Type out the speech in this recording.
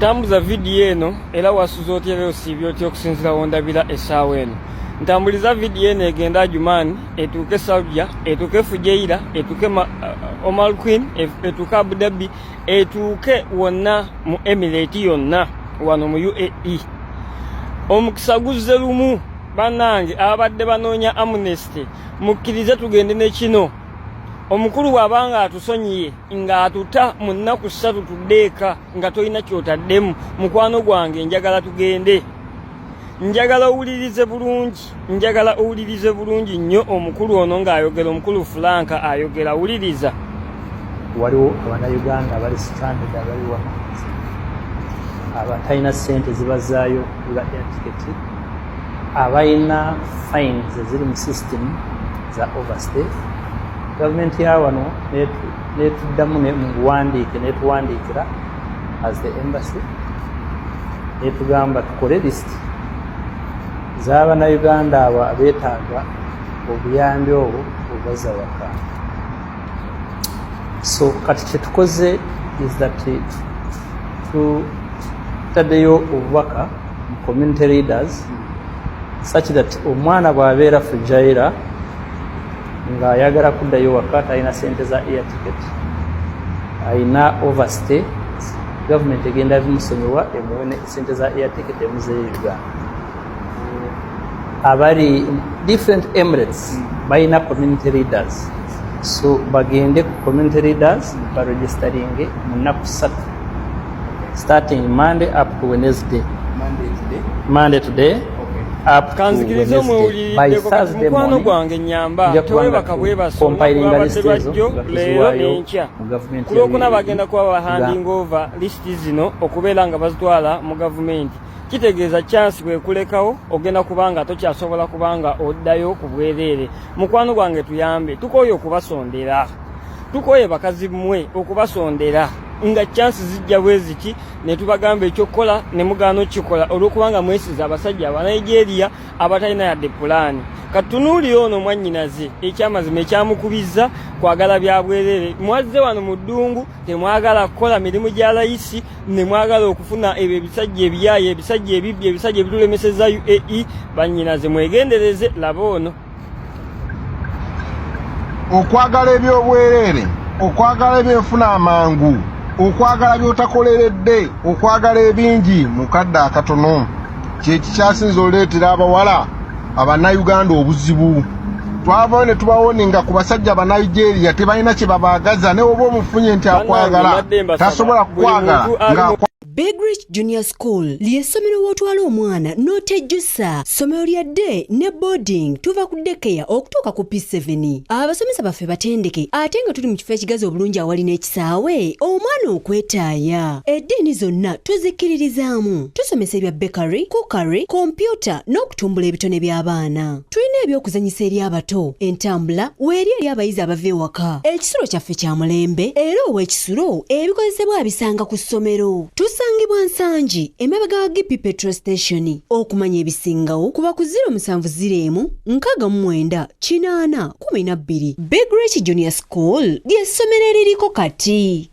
tambuza vidiyo eno era wasuza otya era osiibye otya okusinzira wondabira essaawa eno ntambuliza vidiyo eno egenda ajumaani etuuke saudia etuuke fujeira etuuke uh, uh, omal queen etuuke abudabi etuuke wonna mu emirate yonna wano mu uae omukisa guzze lumu banange ababadde banoonya amnesty mukkirize tugende ne kino omukulu bw'aba nga atusonyiye ng'atuta mu nnaku ssatu tuddeeka nga tolina kyotaddemu mukwano gwange njagala tugende njagala owulirize bulungi njagala owulirize bulungi nnyo omukulu ono ng'ayogera omukulu fulanka ayogera wuliriza waliwo abanauganda bali stranded abali wano abatalina sente zibazaayo eba airtiketi abalina fines eziri mu system za overstay gavumenti ya wano netuddamu muwandiike netuwandiikira as the embassy netugamba tukole list z'abannayuganda abo abeetaaga obuyambi obwo obaza waka so kati kyetukoze is that tutaddeyo obubaka mu community leaders such that omwana bw'abeera fujaira ng'ayagala kuddayo waka talina sente za air ticket alina overstay gavumenti egenda bimusonyiwa emuwe sente za air ticket emuzeyiga abali different emirates hmm. balina community leaders so bagende ku community leaders hmm. baregistaringe mu nnaku ssatu starting monday up to wednesday monday today kanzikiriza omwewuliriddekumukwano gwange nyamba tewebaka bwebasonabadde bajjo leero nenkya kulwokuna bagenda kuba bahanding over zino okubeera nga bazitwala mu gavumenti kitegeeza chansi bwekulekawo ogenda kubanga tokyasobola kubanga oddayo ku bwereere mukwano gwange tuyambe tukooye okubasondera tukooye bakazi mmwe okubasondera nga chansi zijja bweziki ne tubagamba ekyokukola ne mugaana okukikola olwokubanga mwesiza abasajja abanigeria abatalina yadde pulaani katunuulire ono mwannyinaze ekyamazima ekyamukubizza kwagala bya bwereere mwazze wano mu ddungu temwagala kukola mirimu gya layisi nemwagala okufuna ebyo ebisajja ebiyaye ebisajja ebibbi ebisajja ebitulemeseza uae banyinaze mwegendereze laba ono okwagala ebyobwereere okwagala ebyenfuna amangu okwagala byotakoleredde okwagala ebingi mukadde akatono kyekikyasinza oleetera abawala abanauganda obuzibu twavayo ne tubawoninga ku basajja banaigeria tebalina kye babaagaza ne oba omufunye nti akwagala tasobola kukwagala nga Big Rich Junior School ly'essomero w'otwala omwana n'otejjusa ssomero lya day ne boarding tuva ku dekeya okutuuka ku P7 abasomesa baffe batendeke ate nga tuli mu kifo ekigazi obulungi awali n'ekisa Saawe omwana okwetaaya. Eddiini zonna tuzikkiririzaamu. Tusomesa ebya bakery, cookery, kompyuta n'okutumbula ebitone by'abaana. Tulina eby'okuzanyisa eri abato, entambula weeri eri abayizi abava ewaka. Ekisulo kyaffe kya mulembe era ow'ekisulo ebikozesebwa abisanga ku ssomero. Tusangibwa Nsangi emabega wa GP Petrol Station. Okumanya ebisingawo kuba ku 0704 54 kumi na bbiri Big Rich Junior School ly'essomero eririko kati.